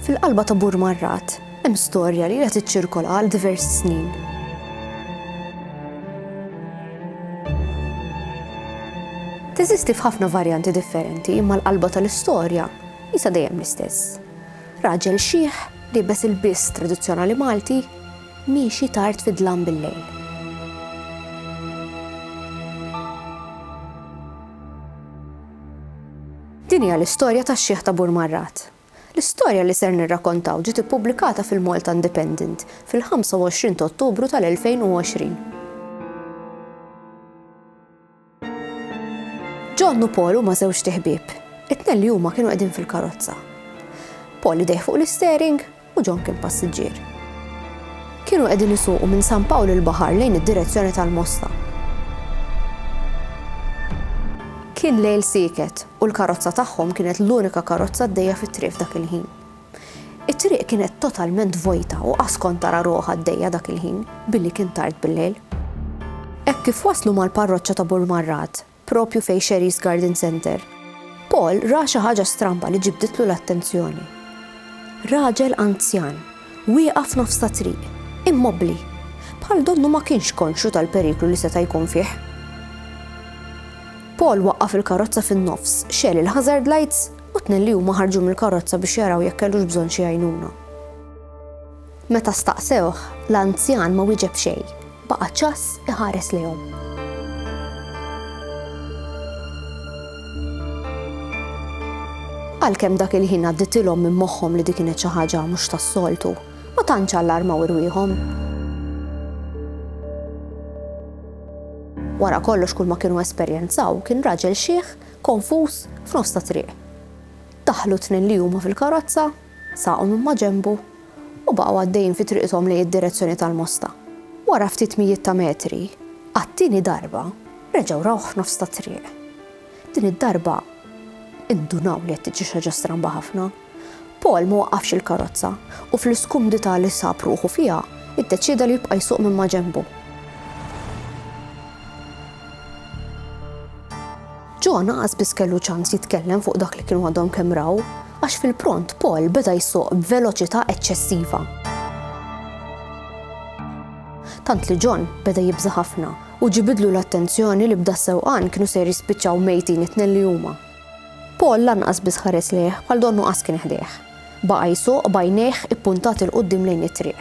Fil-qalba ta' Bur Marrat hemm storja li ilha tiċċirkola għal diversi snin. Teżisti f'ħafna varjanti differenti imma l-qalba tal-istorja jisa dejjem l-istess. Raġel xieħ li bes il-biss tradizzjonali Malti miexi tard fid-dlam bil-lejl. Din hija l-istorja tax-xieħ ta' Burmarrat. L-istorja li ser nirrakontaw ġiet ippubblikata fil-Malta Independent fil-25 ta' Ottubru tal-2020. John u Paul huma żewġt iħbieb. It-tnejn li huma kienu qegħdin fil-karozza. Paul idejh fuq l-isteering u John kien passiġġier. Kienu qegħdin isuqu minn San Pawl il-Baħar lejn id-direzzjoni tal-Mosta. Kien lejl sieket u l-karozza tagħhom kienet l-unika karozza għaddejja fit-triq f'dak il-ħin. It-triq kienet totalment vojta u qas kont tara ruħ għaddejja dak il-ħin billi kien tard bil-lejl. Hekk kif waslu mal-parroċċa ta' Burmarrat, proprju fejn Sherry's Garden Centre, Paul ra xi ħaġa stramba li ġibditlu l-attenzjoni. Raġel anzjan, wieqaf nofs tat-triq, immobbli, bħal donnu ma kienx konxju tal-periklu li seta' jkun fih. Paul waqqaf il-karozza fin-nofs, xegħel il-hazard lights u tnejn li huma ħarġu mill-karozza biex jaraw jekk kellux bżonn xi għajnuna. Meta staqsewh, l-anzjan ma wieġeb xejn, baqa' ċass iħares lejhom. Għalkemm dak il-ħin għadditilhom minn moħħhom li di kienet xi ħaġa mhux tas-soltu, ma tantx allarmaw irwieħhom. Wara kollox kull ma kienu esperjenzaw kien raġel xiħ, konfus, f'nofs ta' triq. Daħlu tnejn li huma fil-karozza Saqgħu minn maġenbu u baqgħu għaddejjin fi triqthom lejn id-direzzjoni tal-Mosta. Wara ftit mijiet ta' metri, għat-tieni darba reġgħu rawh f'nofs tat-triq. Din id-darba indunaw li qed tiġri xi ħaġa stramba ħafna. Paul ma waqqafx il-karozza u fl-iskumdità li sab ruħu fiha, iddeċieda li jibqa' jsuq minn maġenbu. John qas biss kellu ċans jitkellem fuq dak li kienu għadhom kemm raw, għax fil-pront Paul beda jsuq b'veloċità eċċessiva. Tant li John beda jibża' ħafna u ġibidlu l-attenzjoni li bda sewqan kienu se jispiċċaw mejtin it-tnejn li huma. Paul lanqas biss ħares lejh bħal donnu qas kien ħdejh. Baqa' jsuq bajnejh ippuntati l qudiem lejn it-triq.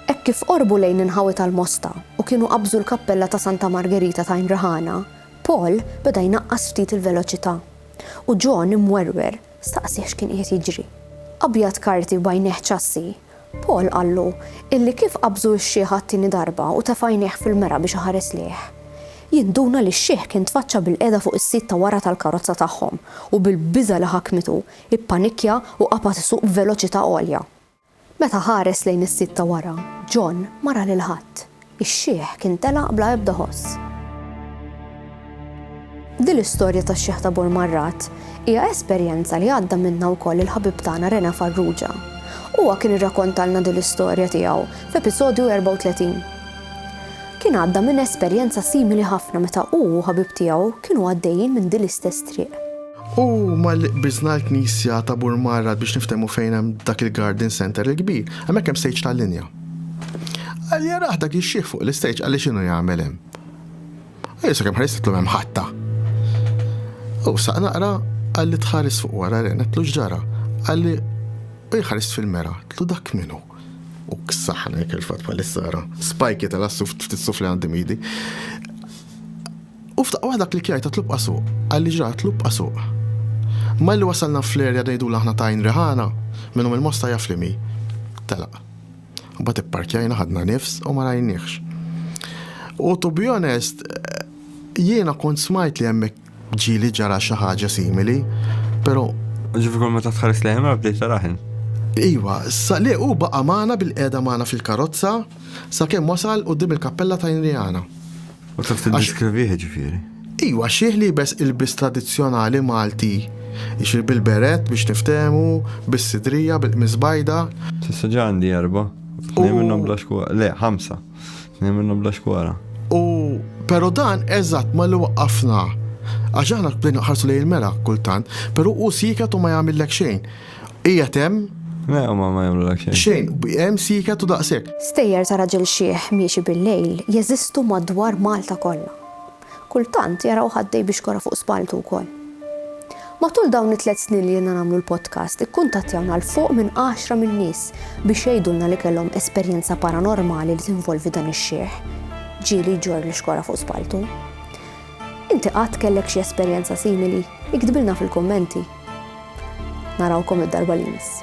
Hekk kif qorbu lejn inħawi tal-Mosta u kienu qabżu l-kappella ta' Santa Margerita ta' Inrahana, Paul beda jnaqqas ftit il-veloċità, u John, imwerwer, staqsieh x'kien qiegħed jiġri. Abjad karti b'għajnejh ċassi, Paul qallu illi kif qabżu x-xiħ għat-tieni darba u tefa' għajnejh fil-mera biex iħares lejh, jinduna li x-xiħ kien tfaċċa bilqiegħda fuq is-sit ta' wara tal-karozza tagħhom u bil-biża' li ħakmitu, ippanikkja u qapat isuq b'veloċità għolja. Meta ħares lejn is-sit ta' wara, John ma ra lil ħadd. Ix-xiħ kien telaq bla ebda ħoss. Din l-istorja tax-xiħ ta' Bur Marrat hija esperjenza li għadda minnha wkoll il-ħabib tagħna Rena Farrugia. Huwa kien irrakontalna din l-istorja tiegħu f'episodju 34. Kien għadda minn esperjenza simili ħafna meta hu u ħabib tiegħu kienu għaddejjin minn din l-istess triq. U malli qbiżna l-knisja ta' Burmarrat biex niftehmu fejn hemm dak il-garden center il-kbir, hemmhekk hemm stage tal-linja. Qal jaraħ dak ix-xiħ fuq l-istage qal li x'inhu jagħmel hemm. Ejja sakemm ħarist qedtlu hemm ħatta. U saq naqra qal li tħares fuq wara ren qedtlu x'ġara. Qal li u jħarist fil-mera, qedtlu dak minhu. U ksaħna jekk il-fatt bħalissa ara. Spajki tal-assuf ftit sufli għandi midi. U f'daqqa waħda klikjajt għat-tlub qasuq. Qalli ġra għat-tlub qasuq. Malli wasalna fl-area ngħidula aħna ta' Għajn Riħana, min hu mill-Mosta jaf liem hi. Telaq. Imbagħad ipparkjajna ħadna nifs u ma rajniehx. U to be honest, jiena kont smajt li hemmhekk ġieli ġara xi ħaġa simili, però Ġifi kol meta tħares li jemra bdejt taraħin. Iwa, sa li u baqa maħna bil-qeda maħna fil-karozza, sa kem wasal u dim il-kappella ta' Inriana. U taf tiddiskrivih ġifieri. Iwa, xieħ li jibes ilbis tradizzjonali Malti. Ixir bil-beret biex niftehmu, bis-sidrija, bil-qmis bajda. Tista' ġa għandi erba', tnejn minnhom bla xkwara. Le, ħamsa, tnejn minnhom bla xkwara. U però dan eżatt ma li waqqafna. Għax aħna bdejna ħarsu lejn il-mera kultant, però hu sieket u ma jagħmillek xejn. Hija temm? Le, huma ma jagħmlulek xejn. Xejn, hemm siket u daqshekk. Stejjer ta' raġel xiħ miexi bil-lejl jeżistu madwar Malta kollha. Kultant jarawh għaddej bi xkora fuq spalltu wkoll. Matul dawn it-tliet snin li ilna nagħmlu l-podcast ikkuntattjawna 'l fuq minn għaxra minn nies biex jgħidulna li kellhom esperjenza paranormali li tinvolvi dan ix-xiħ ġieli jġorr l-xkora fuq spalltu. Inti qatt kellek xi esperjenza simili? Iktbilna fil-kummenti. Narawkom id-darba li jmiss.